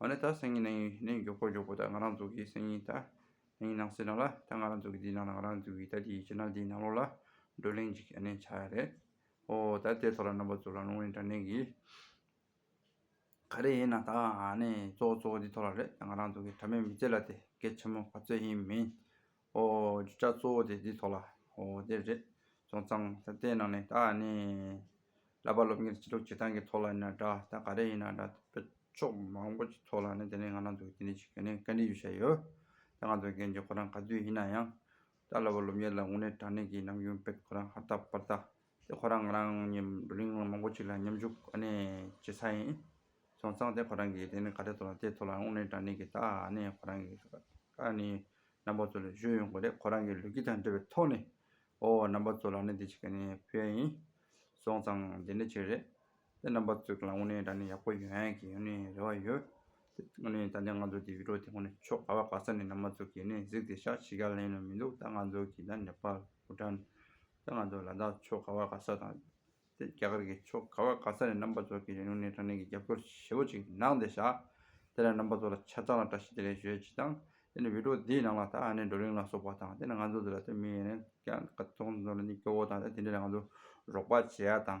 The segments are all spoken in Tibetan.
ཨོ་ནི་ད་སེང་ཉིན་ནང་ཡིན་ནི་མགྱོགས་པོ་མགྱོགས་པོ་ད་ང་རང་ཚོ་གི་སེང་ཉིན་ད་ནང་ཡིན་ནང་སེ་ན་ལ་ད་ང་རང་ཚོ་གི་འདིའི་ནང་ལ་ང་རང་ཚོ་གི་ད་འདིའི་ཕྱི་ནང་འདིའི་ནང་ལོགས་ལ་བགྲོ་གླེང་ཅིག་ཨ་ནི་བྱ་ཡ་རེད། ཨོ་ད་དེ་ཐོག་ལ་རྣམ་པ་ཚོ་ལ་ལུང་རིང་དྲ་གནས་གི། ག་རེ་ཡིན་ན་ད་ཨ་ནི་གཙོ་བོ་གཙོ་བོ་འདི་ཐོག་ལ་རེད་ད་ང་རང་ཚོ་གི་དྲ་མའི་མི་ཚེ་ལ་དེ་གལ་ཆེན་མོ་ག་ཚོད་ཡིན་མིན་ཨོ། བརྗོད་བྱ་གཙོ་བོ་དེ་འདིའི་ཐོག་ལ། ཨོ། དེ་རེད། སོང་ཙང། ད་དེའི་ནང་ནས་ད་ནི། བསླབ་པ་སློབ་གཉེར་བྱེད་ལུགས་བྱེད་སྟངས་ཀྱི་ཐོག་ལ་ཡིན་ན་འདྲ་ད་ག་རེ་ཡིན་ན་འདྲ་དཔེ་ཕྱོགས་མང་པོ་ཀྱི་ཐོག་ལ་ནི་དེ་ནི་ང་རང་ཚོ་གི་འདི་འདྲའི་ཆེད་ཀྱི་ནི་བཀའ་འདྲི་ཞུ་བྱས་ཡོད། ད་ང་ཚོ་གན་རྒྱ་ཁོ་རང་ག་དུས་ཡིན་ན་ཡང། ད་བསླབ་པ་སློབ་གཉེར་ལ་དངོས་གནས་དྲང་གནས་ཀྱི་ནམ་རྒྱུན་དཔེ་ཁོ་རང་ཧར་ཐག་པར་ཐག་དེ་ཁོ་རང་ང་རང་གཉིས་བགྲོ་གླེང་མང་པོ་བྱས་ལ་མཉམ་ཞུགས་བྱེད་ས་ཡིན། སོང་ཙང་དེ་ཁོ་རང་གིས་དེ་ནི་ག་རེ་ཐོག་ལ་དེ་ཐོག་ལ་དངོས་གནས་དྲང་གནས་ཀྱི་ད་ནི་ཁོ་རང་གི་ཁ་ནི་རྣམ་པ་ཚོ་ལས་གཞོལ་ཡོང་དགོས་རེད་ཁོ་རང་གི་ལུས་དཀྱིལ་དང་འབྲེལ་བའི་ཐོག་ནས་ཨོ་རྣམ་པ་ཚོ་ལ་ནི་དེ་ཅིག་ག་ནི་ཕུལ་ཡ་ཡིན། སོང་ཙང་དེ་འདྲ་ཅིག་རེད། དེ་རྣམ་པ་ཚོ་གི་ལ་དངོས་གནས་དྲང་གནས་ཡག་པོ་ཡོད་ཡ་གི་ནི་རེ་བ་ཡོད། དེ་དངོས་གནས་ད་ནི་ང་ཚོ་དེ་བི་ཀྲོ་དེ་དངོས་གནས་ཕྱོགས་ག་བ་ག་ས་ནས་རྣམ་པ་ཚོ་གིས་ནི་གཟིགས་དེ་ཤག་ཕྱི་རྒྱ་ལེན་ནོ་མི་འདུག་ད་ང་ཚོ་གི་ད་ནེ་པ་ལ་བུ་ཏྲ་ནི་ད་ང་ཚོ་ལ་དྭགས་ཆོས་ག་བ་ག་ས་དང། རྒྱ་གར་གྱི་ཆོས་ག་བ་ག་ས་ནས་རྣམ་པ་ཚོ་གིས་རིང་ལུགས་ནས་དྲང་བདེན་གྱི་རྒྱབ་སྐྱོར་ཞེ་བོ་ཅིག་གནང་སྟེ་བཞག། དེ་ལས་རྣམ་པ་ཚོ་ལ་ཆ་ཚང་ལ་བཀྲ་ཤིས་བདེ་ལེགས་ཞུ་ཡས་ཅི་དང། དེ་ནི་བིད་ཀྲོ་འདིའི་ནང་ལ་དྭགས་ནས་འགྲོ་རིང་ལ་སོགས་པ་དང་དེ་ནི་ང་ཚོ་འདི་ལ་ཐོན་མི་ཡས་ནས་ཀྱང་ཀ་ཚོང་ཚོ་ལ་ནི་སྐྱོ་བོ་དང་དེ་འདྲས་ལ་ང་ཚོ་རོགས་པ་བྱེད་ཡ་དང།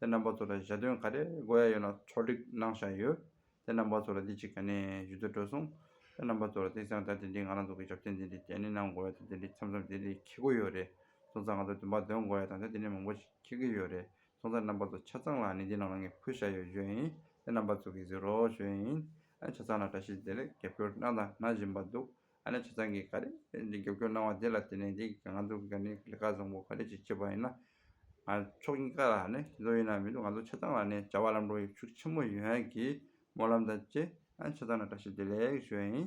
དེ་རྣམ་པ་ཚོ་ལ་ཞལ་འདོན་ག་རེ་དགོས་ཡ་ཡོད་ན་ཕྱོགས་སྒྲིག་གནང་བཞག་ཡོད། དེ་རྣམ་པ་ཚོ་ལ་འདི་གཅིག་ག་ནས་ཞུ་འདོད་བྲོས་སོང། དེ་རྣམ་པ་ཚོ་ལ་དེང་སང་ད་དེ་འདྲི་ང་རང་ཚོ་གི་ཞབས་བརྟན་དེ་འདྲི་གྱ་ནི་གནང་དགོས་ཡ་དང་དེ་འདྲི་འཆམ་འཆམ་དེ་འདྲི་ཁྱི་དགོས་ཡོད་རེད་སོང་ཙང་ང་ཚོ་འདུན་པ་འདོན་དགོས་ཡ་དང་དེ་འདྲི་ནི་མང་པོ་ཞིག་ཁྱི་གི་ཡོད་རེད་སོང་ཙང་རྣམ་པ་ཚོ་ཆ་ཚང་ལ་ནི་འདི་རྣམས་ལ་ངས་ཕུལ་བཞག་ཡོད་ཞོད་ཡིན་དེ་རྣམ་པ་ཚོ་གིས་གཟིགས་རོགས་ཞོད་ཡིན། ཆ་ཚང་ལ་བཀྲ་ཤིས་བདེ་ལེགས་རྒྱབ་སྐྱོར་གནང་དང་གནང་བཞིན་པ་འདུག་ཨ་ནེ་ཆུ་ཚང་གིས་ག་རེ་རྒྱབ་སྐྱོར་གནང་བ་དེ་ལ་བརྟེན་ནས་འདི་ང་ཚོ་ག་ནི་ལི་ཁ་བཟང་པོ་ག་རེ་བྱེད་བྱེད་པ་ཡིན་ན། ང་ཕྱོགས་གཉིས་ཀ་ལ་ནི་ཞིག་ཚོགས་ཡིན་ན་མི་འདུག་ང་ཚོ་ཆ་ཚང་ལ་ནི་བྱ་བ་ལམ་འགྲོ་ཡིག་ཆུ་ཆེན་མོ་ཡོད་ཧན་གིས་སྨོན་ལམ་དང་བཅས་ཆ་ཚང་ལ་བཀྲ་ཤིས་བདེ་ལེགས་ཞུ་བ་ཡིན།